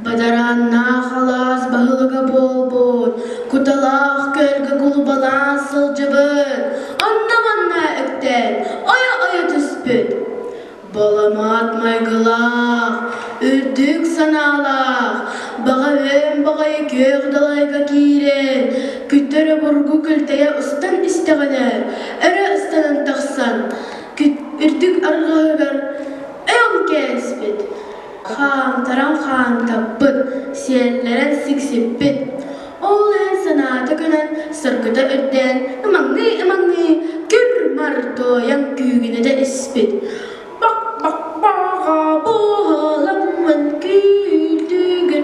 Бадарааннаах алаас баһылыга буолбут, куталаах көлгө кулубалаан сылдьыбыт, онно-манна үктэн ойо-ойо түспүт. Баламаат майгылаах, үрдүк санаалаах, баҕа үөн баҕайы күөх далайга киирэн, күттөрө бургу күлтэйэ устан истэҕинэ, өрө ыстанан тахсан, үрдүк арҕаһыгар өҥ кээспит. Хаамтаран хаамтаппыт, сиэллэрэн сиксиппит. Ол иһин санаата көнөн, соргута үрдээн, ымаҥныы-ымаҥныы, кыр-бар тоойон күүгүнэтэ испит. Бак-бак-баҕа буоламмын күүтүгүн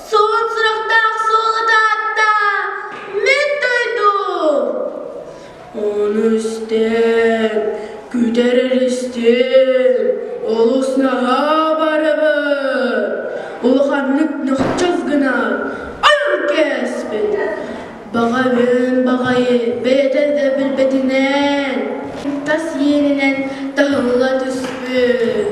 Суон сурахтаах суолата атта мин дойдум. Ону истэн күтэрэр истиҥ олус наһаа барыбын улаханнык нөхчөс гынан ойон кээспит баҕайын баҕайы бэйэтэ да билбэтинэн тас иэнинэн таһылла түспүт